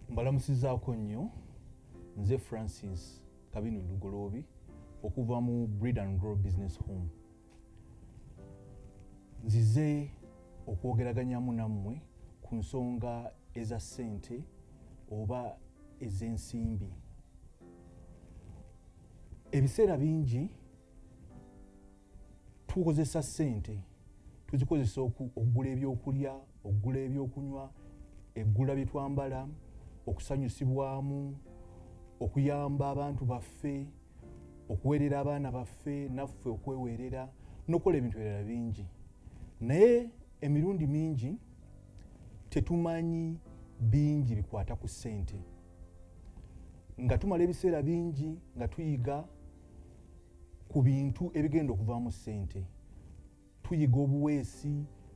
mbalamusizaako nnyo nze francis kabinu lugoloobi okuva mu breed and grow business home nzize okwogeraganyamu nammwe ku nsonga eza ssente oba ez'ensimbi ebiseera bingi tukozesa sente tuzikozesa okugula ebyokulya okugula ebyokunywa eggula byetwambala okusanyusibwamu okuyamba abantu baffe okuweerera abaana baffe naffe okweweerera nokukola ebintu ebirala bingi naye emirundi mingi tetumanyi bingi bikwata ku sente nga tumala ebiseera bingi nga tuyiga ku bintu ebigenda okuvaamu ssente tuyiga obuweesi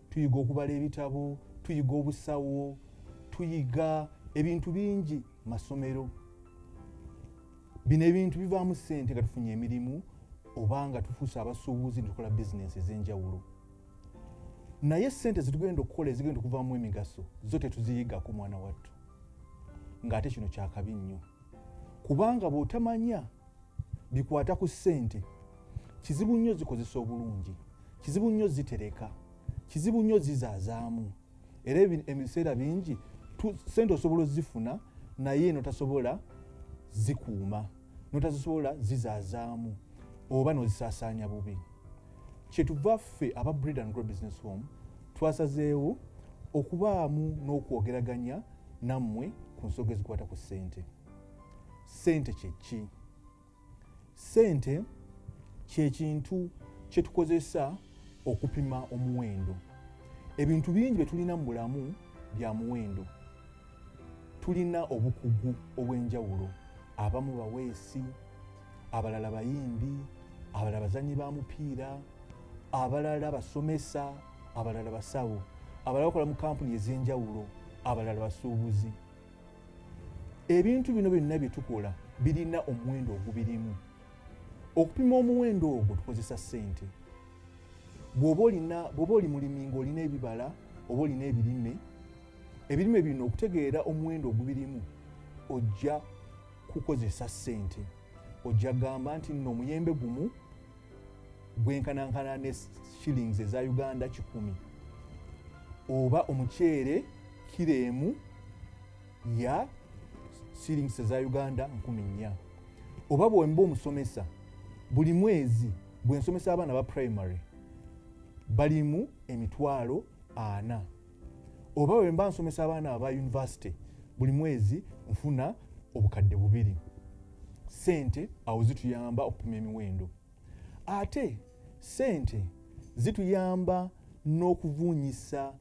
tuyiga okubala ebitabo tuyiga obusawo tuyiga ebintu bingi masomero bino ebintu bivaamu ssente nga tufunye emirimu oba nga tufuuse abasuubuzi netukola bizinensi ez'enjawulo naye ssente zetugenda okukola ezigenda okuvaamu emigaso zo tetuziyigako mwana wattu ng'ate kino kyakabi nnyo kubanga bwotamanya bikwata ku ssente kizibu nnyo zikozesa obulungi kizibu nnyo zitereka kizibu nnyo zizaazaamu era ebiseera bingi sente osobola ozifuna naye notasobola zikuuma notazisobola zizaazaamu oba nozisaasaanya bubi kyetuva ffe aba breed and grow business home twasazeewo okubaamu n'okwogeraganya nammwe ku nsoga ezikwata ku ssente ssente kyeki ssente kyekintu kyetukozesa okupima omuwendo ebintu bingi byetulina mu bulamu bya muwendo tulina obukugu obw'enjawulo abamu baweesi abalala bayimbi abalala bazanyi ba mupiira abalala basomesa abalala basawo abalala bakola mu kampuni ez'enjawulo abalala basuubuzi ebintu bino byonna bye tukola birina omuwendo ogubirimu okupima omuwendo ogwo tukozesa ssente bwoba oli mulimi ngaolina ebibala oba olina ebirime ebirime bino okutegeera omuwendo ogubirimu ojja kukozesa sente ojja gamba nti nno omuyembe gumu gwenkanankana ne shillings eza uganda kikumi oba omuceere kiro emu ya shillings eza uganda nkumi nnya oba bwemba omusomesa buli mwezi bwensomesa abaana ba primary balimu emitwalo ana oba wemba nsomesa abaana aba univesity buli mwezi nfuna obukadde bubiri sente awo zituyamba okupima emiwendo ate sente zituyamba n'okuvuunyisa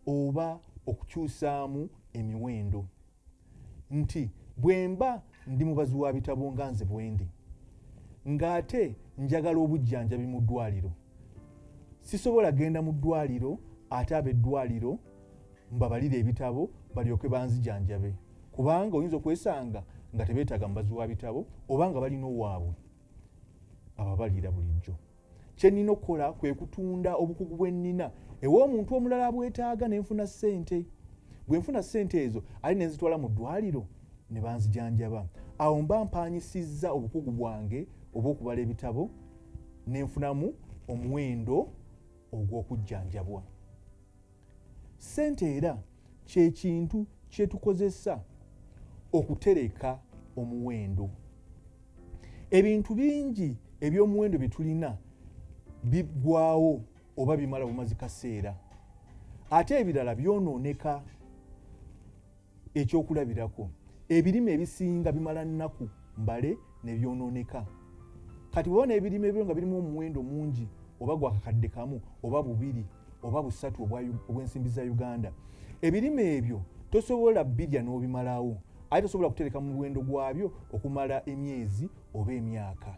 oba okukyusaamu emiwendo nti bwemba ndi mubazi wa bitabo nga nze bwendi ng'ate njagala obujjanjabi mu ddwaliro sisobola genda mu ddwaliro ate ab'eddwaliro mbabalire ebitabo balyoke banzijanjabe kubanga oyinza okwesanga nga tebeetaaga mubazi wa bitabo oba nga balina owaabwe ababalira bulijjo kyenina okukola kwe kutunda obukugu bwennina ewa omuntu omulala abwetaaga nenfuna ssente bwe nfuna ssente ezo ali nenzitwala mu ddwaliro ne banzijanjaba awo mba mpanyisizza obukugu bwange obw'okubala ebitabo nenfunamu omuwendo ogw'okujjanjabwa ssente era kye kintu kye tukozesa okutereka omuwendo ebintu bingi eby'omuwendo bye tulina biggwawo oba bimala bumazi kaseera ate ebirala byonooneka ekyokulabirako ebirime ebisinga bimala nnaku mbale nebyonooneka kati bwewa n'ebirime ebyo nga birimu omuwendo mungi oba gwakakadde kamu oba bubiri oba busatu obw'ensimbi za uganda ebirime ebyo tosobola birya n'obimalawo aye tosobola kutereka mu muwendo gwabyo okumala emyezi oba emyaka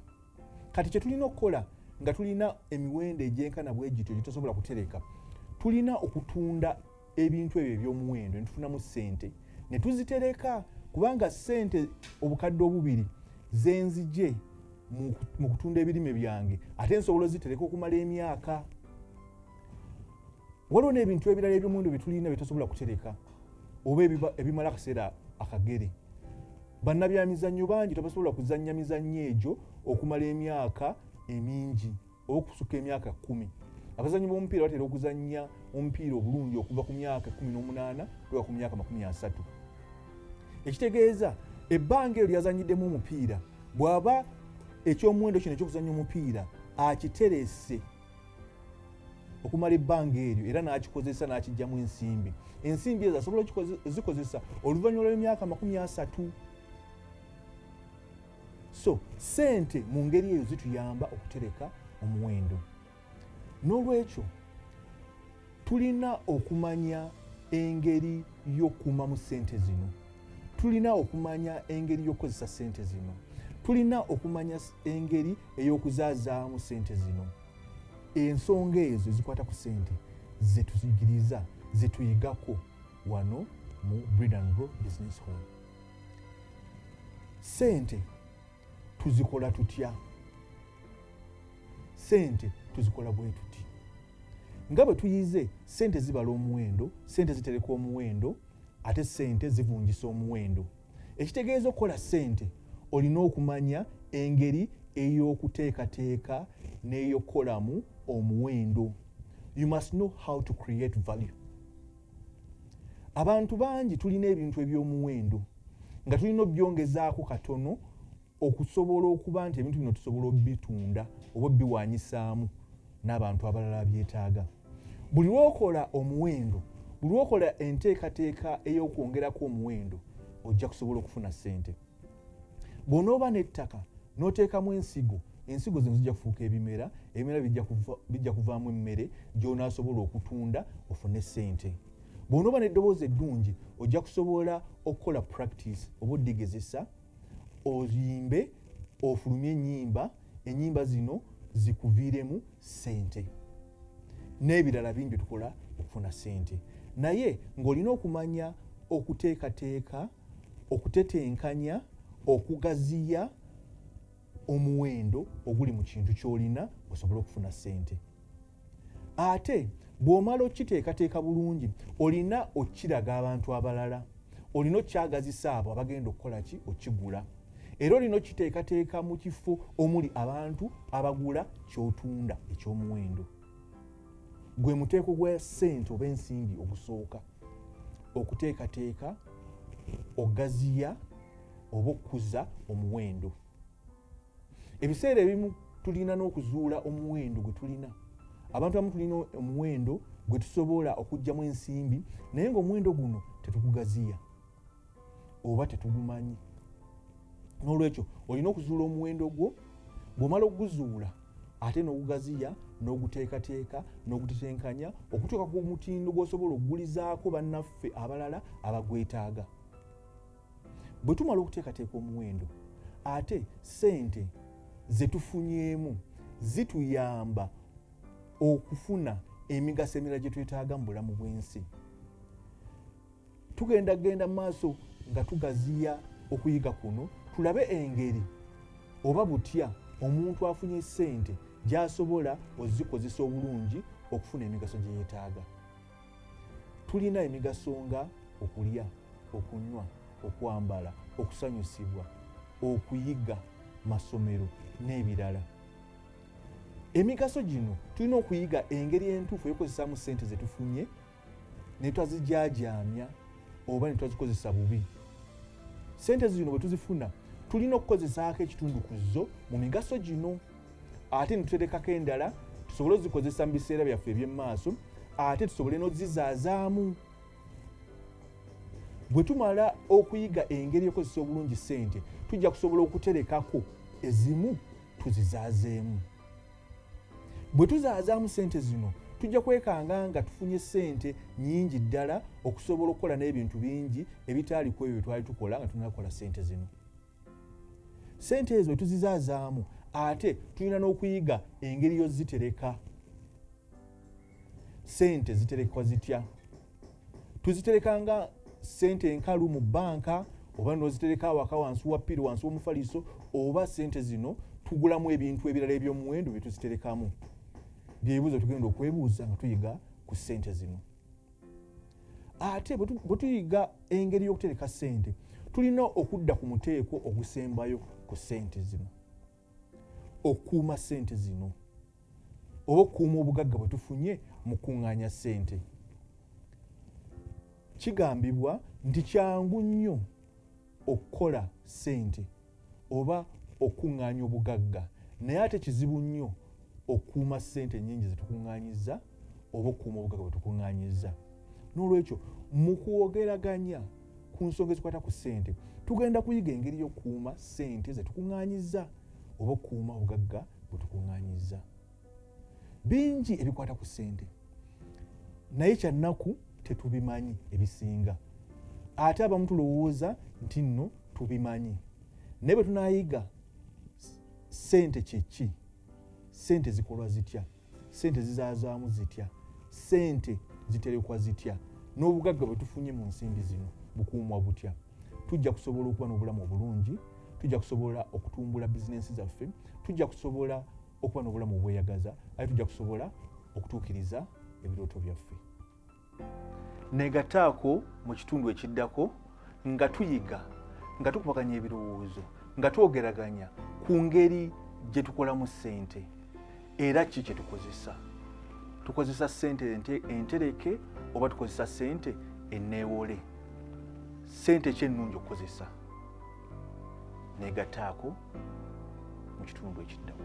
kati kye tulina okukola nga tulina emiwendo egyenkana bwegityo gye tosobola kutereka tulina okutunda ebintu ebyo ebyomuwendo netufunamu sente netuzitereka kubanga sente obukadde obubiri zenzije mu kutunda ebirime byange ate nsobola ozitereka okumala emyaka waliwo n'ebintu ebirala ebyomuwendo byetulina byetosobola kutereka oba ebimala akaseera akagere bannabyamizannyo bangi tebasobola kuzannya mizannyo egyo okumala emyaka emingi okusuka emyaka kumi abazanyi bomupiira batera okuzanya omupiira obulungi okuva ku myaka 18 kuba ku myaka 3 ekitegeeza ebbanga eryo lyazanyiddemu omupiira bw'aba ekyomuwendo kino ekyokuzanya omupiira akiterese okumala ebbanga eryo era n'akikozesa n'akijjamu ensimbi ensimbi ezo asobola zikozesa oluvannyuma lw'emyaka 3 so sente mu ngeri eyo zituyamba okutereka omuwendo n'olwekyo tulina okumanya engeri y'okukuumamu sente zino tulina okumanya engeri y'okukozesa sente zino tulina okumanya engeri ey'okuzaazaamu sente zino ensonga ezo ezikwata ku sente zetuyigiriza zetuyigako wano mu breed and grow business home sente tuzikola tutya sente tuzikola bwetuti nga bwe tuyize sente zibala omuwendo sente zitereka omuwendo ate sente zivungisa omuwendo ekitegeeza okukola sente olina okumanya engeri ey'okuteekateeka n'eyokukolamu omuwendo you must know how to create value abantu bangi tulina ebintu ebyomuwendo nga tulina obyongezaako katono okusobola okuba nti ebintu bino tusobola obitunda oba obiwanyisaamu n'abantu abalala byetaaga buli lwokola omuwendo buli lwokola enteekateeka ey'okwongerako omuwendo ojja kusobola okufuna ssente bw'onooba n'ettaka n'oteekamu ensigo ensigo zino zijja kufuuka ebimera ebimera bijja kuvaamu emmere gy'onaasobola okutunda ofune ssente bw'onooba n'eddoboozi eddungi ojja kusobola okukola practice oba odigezesa oyimbe ofulumye ennyimba ennyimba zino zikuviiremu ssente n'ebirala bingi tukola okufuna ssente naye ng'olina okumanya okuteekateeka okutetenkanya okugaziya omuwendo oguli mu kintu kyolina osobole okufuna sente ate bw'omala okukiteekateeka bulungi olina okukiraga abantu abalala olina okukyagazisa abo abagenda okukola ki okigula era olina okukiteekateeka mu kifo omuli abantu abagula kyotunda eky'omuwendo gwe muteeko gwa sente oba ensimbi ogusooka okuteekateeka ogaziya oba okukuza omuwendo ebiseera ebimu tulina n'okuzuula omuwendo gwe tulina abantu abamu tulina omuwendo gwe tusobola okugjamu ensimbi naye ngaomuwendo guno tetugugaziya oba tetugumanyi n'olwekyo olina okuzuula omuwendo gwo bw'omala okuguzuula ate n'ogugaziya n'oguteekateeka n'ogutetenkanya okutuuka ku mutindo gw'osobola okugulizaako bannaffe abalala abagwetaaga bwe tumala okuteekateeka omuwendo ate ssente ze tufunyeemu zituyamba okufuna emigaso emirala gye twetaaga mu bulamu bw'ensi tugenda genda maaso nga tugaziya okuyiga kuno tulabe engeri oba butya omuntu afunye sente gyasobola ozikozesa obulungi okufuna emigaso gyeyetaaga tulina emigaso nga okulya okunywa okwambala okusanyusibwa okuyiga masomero n'ebirala emigaso gino tulina okuyiga engeri entuufu eyokozesaamu sente zetufunye ne twazijaajaamya oba ne twazikozesa bubi sente zino bwe tuzifuna tulina okukozesaako ekitundu ku zo mu migaso gino ate ne tuterekako endala tusobole ozikozesa mu biseera byaffe eby'emumaaso ate tusobole n'ozizaazaamu bwe tumala okuyiga engeri ekozesa obulungi sente tujja kusobola okuterekako ezimu tuzizaazeemu bwe tuzaazaamu ssente zino tujja kwekanga nga tufunye ssente nyingi ddala okusobola okukola n'ebintu bingi ebitaali ku ebyo bye twali tukola nga tunakola ssente zino ssente ezo tuzizaazaamu ate tulina n'okuyiga engeri yo zitereka ssente ziterekwa zitya tuzitereka nga sente enkalu mu banka oba nozitereka awaka wansi wa piri wansi womufaliso oba sente zino tugulamu ebintu ebirala ebyomuwendo byetuziterekamu byebibuzo tugenda okwebuuza nga tuyiga ku sente zino ate bwetuyiga engeri yokutereka sente tulina okudda ku muteeko ogusembayo ku sente zino okuuma sente zino oba okuuma obugagga bwetufunye mu kuŋŋaanya sente kigambibwa nti kyangu nnyo okukola sente oba okuŋŋaanya obugagga naye ate kizibu nnyo okuuma sente nyingi zetukuŋŋaanyiza oba okuuma obugagga bwetukuŋŋaanyiza n'olwekyo mu kwogeraganya ku nsonga ezikwata ku ssente tugenda kuyiga engeri y'okukuuma ssente ze tukuŋŋaanyiza oba okukuuma obugagga bwe tukuŋŋaanyiza bingi ebikwata ku ssente naye kyannaku tetubimanyi ebisinga ate abamu tulowooza nti nno tubimanyi naye bwe tunayiga ssente kyeki ssente zikolwa zitya sente zizazaamu zitya sente ziterekwa zitya n'obugagga bwe tufunye mu nsimbi zino bukuumwa butya tujja kusobola okuba n'obulamu obulungi tujja kusobola okutumbula bizinensi zaffe tujja kusobola okuba n'obulamu obweyagaza aye tujja kusobola okutuukiriza ebirooto byaffe negataako mu kitundu ekiddako nga tuyiga nga tukubaganya ebirowoozo nga twogeraganya ku ngeri gye tukolamu ssente era ki kye tukozesa tukozesa ssente entereke oba tukozesa ssente eneewole ssente ki ennungi okukozesa negataako mu kitundu ekiddamu